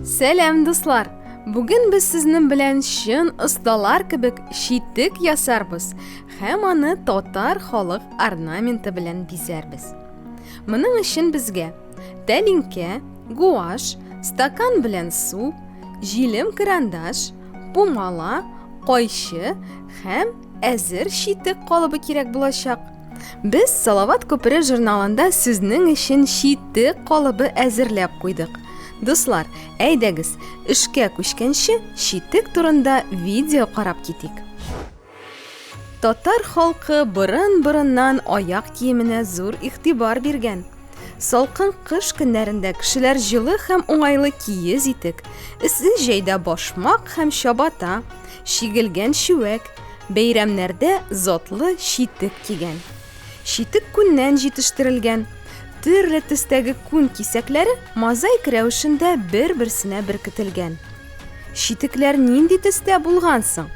Сәлам, дуслар! Бүген без сезнең белән чын осталар кебек читек ясарбыз һәм аны татар халык орнаменты белән бизәрбез. Моның өчен безгә тәлинкә, гуаш, стакан белән су, җилем карандаш, пумала, кайчы һәм әзер читек калыбы кирәк булачак. Без Салават күпере журналында сезнең өчен читек калыбы әзерләп куйдык. Дуслар, әйдәгез, эшкә күчкәнче читек турында видео карап китик. Татар халкы борын-борыннан аяк киеменә зур игътибар биргән. Салкын кыш көннәрендә кешеләр җылы һәм уңайлы киез итек, эссе җәйдә башмак һәм чабата, чигелгән чүәк, Бәйрәмнәрдә затлы читек кигән. Читек күннән җитештерелгән. Төрле төстәге күн кисәкләре мозаик рәвешендә бер-берсенә беркетелгән. Читекләр нинди төстә булган соң?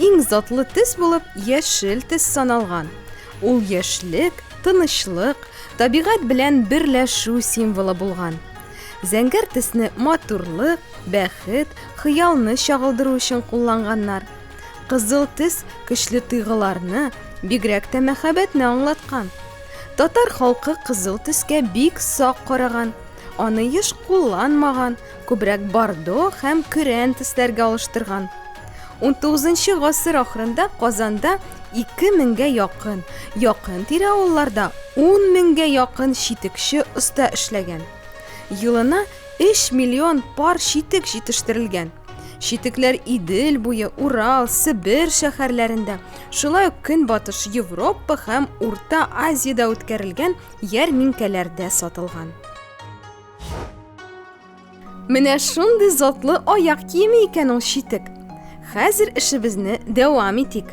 Иң затлы төс булып яшел төс саналган. Ул яшьлек, тынычлык, табигать белән берләшү символы булган. Зәңгәр төсне матурлык, бәхет, хыялны чагылдыру өчен кулланганнар. Кызыл тез көчле тыйгыларны, бигрәк тә мәхәббәтне аңлаткан. Татар халкы кызыл төскә бик сак караган, аны еш кулланмаган, күбрәк бордо һәм көрән төсләргә алыштырган. 19 гасыр ахырында Казанда 2000гә якын, якын тирә авылларда 10 меңгә якын читекче оста эшләгән. Елына 3 миллион пар читек җитештерелгән. Читекләр Идел буе, Урал, Себер шәһәрләрендә, шулай ук Көнбатыш Европа һәм Урта Азиядә үткәрелгән ярминкәләрдә сатылган. Менә шундый затлы аяк киеме икән ул читек. Хәзер эшебезне дәвам итик.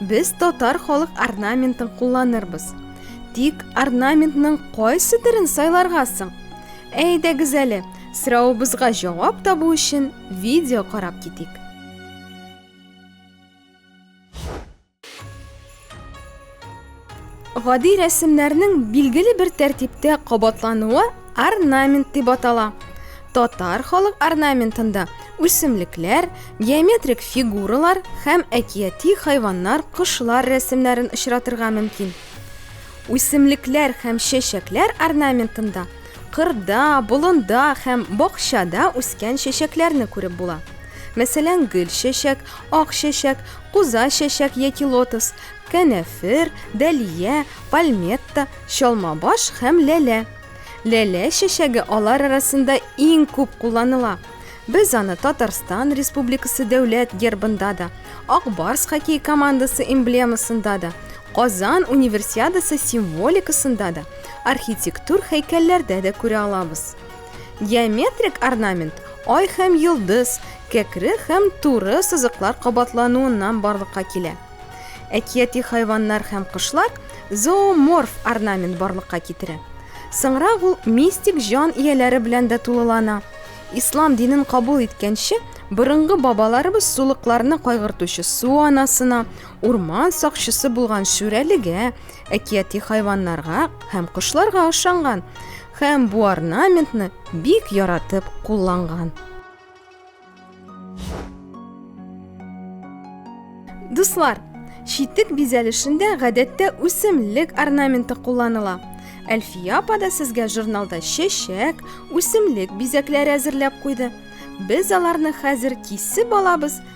Без татар халык орнаментын кулланырбыз. Тик орнаментның кайсы төрен сайларга соң? Әйдәгез әле, сорауыбызга җавап табу өчен видео карап китик. Гади рәсемнәрнең билгеле бер тәртиптә кабатлануы орнамент дип атала. Татар халык орнаментында үсемлекләр, геометрик фигуралар һәм әкияти хайваннар, кошлар рәсемнәрен очратырга мөмкин. Үсемлекләр һәм чәчәкләр орнаментында кырда, болында һәм бакчада үскән чәчәкләрне күреп була. Мәсәлән, гөл чәчәк, ак чәчәк, куза чәчәк яки лотос, Кәнәфер, дәлия, пальметта, чалмабаш һәм ләлә. Ләлә чәчәге алар арасында иң күп кулланыла. Без аны Татарстан Республикасы дәүләт гербында да, Ак Барс хоккей командасы эмблемасында да, Казан универсиадасы символикасында да, архитектур һәйкәлләрдә дә күрә алабыз. Геометрик орнамент ай һәм йолдыз, кәкре һәм туры сызыклар кабатлануыннан барлыкка килә. Әкияти хайваннар һәм кошлар зооморф орнамент барлыкка китерә. Соңрак ул мистик җан ияләре белән дә тулылана. Ислам динен кабул иткәнче, борынгы бабаларыбыз сулыкларны кайгыртучы су анасына, урман сакчысы булган шүрәлегә, әкияти хайваннарга һәм кошларга ышанган һәм бу орнаментны бик яратып кулланган. Дуслар, читек бизәлешендә гадәттә үсемлек орнаменты кулланыла. Әлфия апа да сезгә журналда чәчәк, үсемлек бизәкләре әзерләп куйды. Без аларны хәзер кисеп алабыз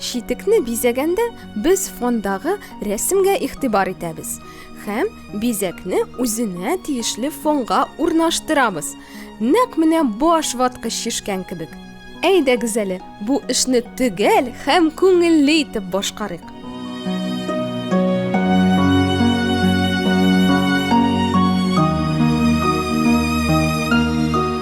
Читекне бизәгәндә без фондагы рәсемгә игътибар итәбез һәм бизәкне үзенә тиешле фонга урнаштырабыз. Нәкъ менә баш ваткыч шешкән кебек. Әйдәгез әле, бу эшне төгәл һәм күңелле итеп башкарыйк.